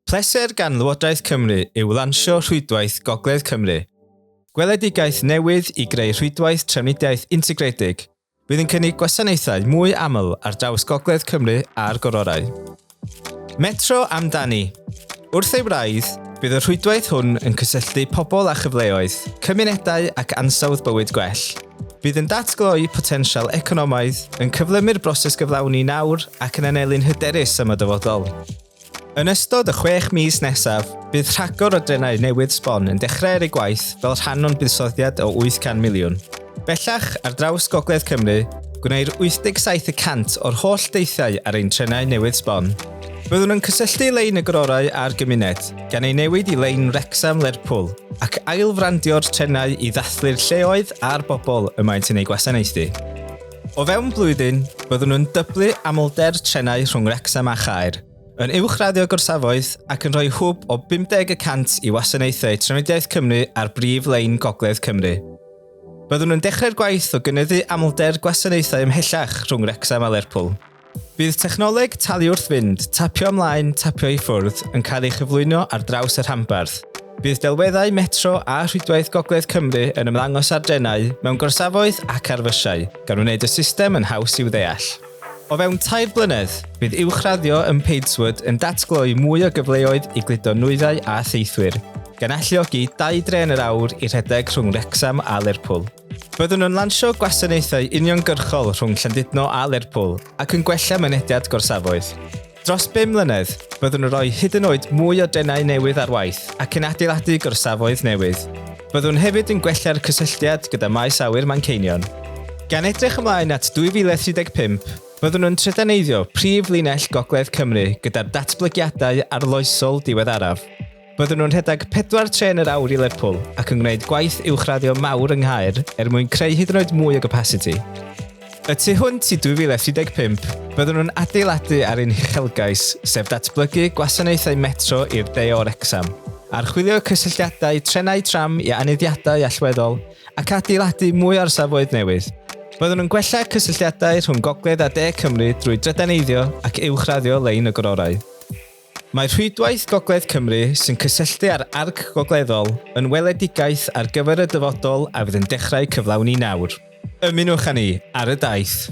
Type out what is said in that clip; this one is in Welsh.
Pleser gan Lywodraeth Cymru yw lansio Rhwydwaith Gogledd Cymru, gweledigaeth newydd i greu rhwydwaith trafnidiaeth integredig fydd yn cynnig gwasanaethau mwy aml ar draws Gogledd Cymru a'r Gororau. Metro amdani! Wrth ei wraidd, bydd y rhwydwaith hwn yn cysylltu pobl â chyfleoedd, cymunedau ac ansawdd bywyd gwell. Bydd yn datgloi potensial economaidd, yn cyflymu'r broses gyflawni nawr ac yn anelu'n hyderus am y dyfodol. Yn ystod y chwech mis nesaf, bydd rhagor o drenau newydd sbon yn dechrau ar ei gwaith fel rhan o'n buddsoddiad o 800 miliwn. Bellach, ar draws Gogledd Cymru, gwneir 87 y cant o'r holl deithiau ar ein trenau newydd sbon. Byddwn yn cysylltu lein y gororau â'r gymuned, gan ei newid i lein Wrecsam Lerpwl, ac ail-frandio'r trenau i ddathlu'r lleoedd a'r bobl y maent yn eu gwasanaethu. O fewn blwyddyn, byddwn nhw'n dyblu amlder trenau rhwng Wrecsam a Chaer, yn uwchraddio gorsafoedd ac yn rhoi hwb o 50 y cant i wasanaethau Trafnidiaeth Cymru ar brif lein Gogledd Cymru. Byddwn yn dechrau'r gwaith o gynyddu amlder gwasanaethau ymhellach rhwng Wrecsam a Lerpwl. Bydd technoleg talu wrth fynd, tapio ymlaen, tapio i ffwrdd, yn cael ei chyflwyno ar draws y rhanbarth. Bydd delweddau metro a rhwydwaith Gogledd Cymru yn ymddangos ar drenau, mewn gorsafoedd ac ar fysiau, gan wneud y system yn haws i'w ddeall. O fewn tair blynedd, bydd uwchraddio ym Padeswood yn datgloi mwy o gyfleoedd i gludo nwyddau a theithwyr, gan alluogi dau dren yr awr i rhedeg rhwng Wrecsam a Lerpwl. Byddwn yn lansio gwasanaethau uniongyrchol rhwng Llandudno a Lerpwl ac yn gwella mynediad gorsafoedd. Dros 5 mlynedd, byddwn yn rhoi hyd yn oed mwy o denau newydd ar waith ac yn adeiladu gorsafoedd newydd. Byddwn hefyd yn gwella'r cysylltiad gyda Maes Awyr Manceinion. Gan edrych ymlaen at 2035, byddwn yn trydaneiddio prif linell Gogledd Cymru gyda'r datblygiadau arloesol diweddaraf. Byddwn nhw'n rhedeg pedwar trên yr awr i Lerpwl ac yn gwneud gwaith uwchraddio mawr yng Nghaer er mwyn creu hyd yn oed mwy o gapasiti. Y tu hwnt i 2035, byddwn nhw'n adeiladu ar ein huchelgais, sef datblygu gwasanaethau metro i'r De o Wrecsam, archwilio cysylltiadau trenau tram i aneddiadau allweddol ac adeiladu mwy o orsafoedd newydd. Byddwn yn gwella cysylltiadau rhwng Gogledd a De Cymru drwy drydaneiddio ac uwchraddio lein y gororau. Mae Rhwydwaith Gogledd Cymru, sy'n cysylltu â'r arc gogleddol, yn weledigaeth ar gyfer y dyfodol a fydd yn dechrau cyflawni nawr. Ymunwch â ni ar y daith!